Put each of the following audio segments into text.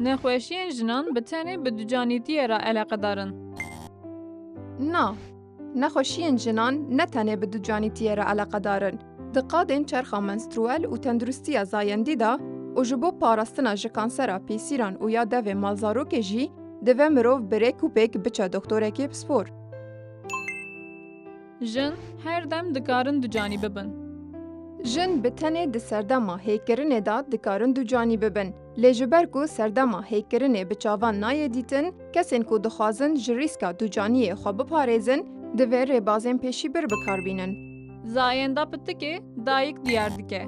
Nexweşiyên jinan bi tenê bi ducanîtiyê re eleqedar in. Na, nexweşiyên jinan ne tenê bi ducanîtiyê re eleqedar in. Di qadên çerxa menstruel û tenduristiya zayendî de û ji bo parastina ji kansera pêsîran û ya devê malzarokê jî, divê mirov bi rêk û pêk biçe doktorekê pispor. Jin her dem dikarin ducanî bibin. Jin bi tenê di serdema hêkirinê de dikarin ducanî bibin. Lê ji ber ku serdema hêkirinê bi çavan nayê dîtin, kesên ku dixwazin ji rîska ducaniyê xwe biparêzin, divê rêbazên pêşîbir bikar bînin. Zayenda pitikê dayik diyar dike.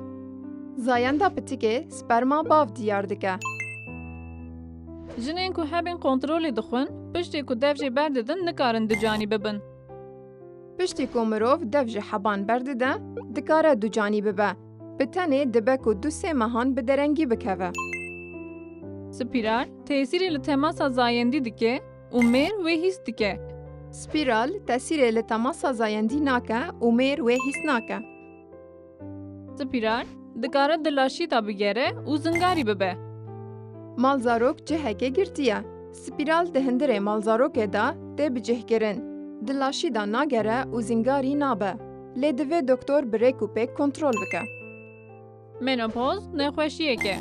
Zayenda pitikê sperma bav diyar dike. Jinên ku hebên kontrolê dixwin, piştê ku dev jê berdidin nikarin ducanî bibin. Piştî ku mirov dev ji heban berdide, dikare ducanî bibe. Bi tenê dibe ku du sê mehan bi derengî bikeve. Spiral, tesîrê li temasa zayendî dike û mêr wê hîs dike. Spiral, tesîrê li temasa zayendî nake û mêr wê hîs nake. Spiral dikare di laşîta bigere û zingarî bibe. Malzarok cihekê girtiye. Spiral di hindirê malzarokê de tê bicihkirin. Di laşî de nagere û zingarî nabe. Lê divê doktor bi rêk û pêk kontrol bike. Menopoz nexweşiyek e.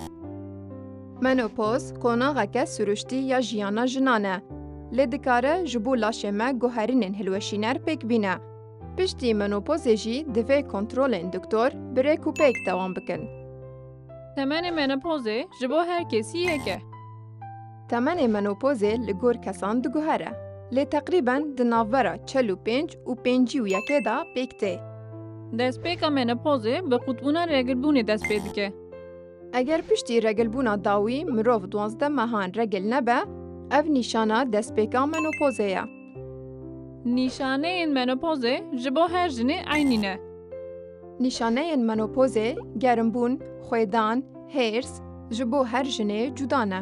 Menopoz qonaxeke siruştî ya jiyana jinan e. Lê dikare ji bo laşê me guherînên hilweşîner pêk bîne. Piştî menopozê jî divê kontrolên doktor bi rêk û pêk dewam bikin. Temenê menopozê ji bo her kesî yek e. Temenê menopozê li gor kesan diguhere. Lê teqrîben di navbera çel û pênc û pêncî û yekê de pêk tê. Destpêka menopozê bi qutbûna regilbûnê dest pê dike. Eger piştî regilbûna dawî mirov duwazdeh mehan regil nebe, ev nîşana destpêka menopozê ye. Nîşaneyên menopozê ji bo her jinê eynî ne. Nîşaneyên menopozê gerimbûn, xwêdan, hêrs, ji bo her jinê cuda ne.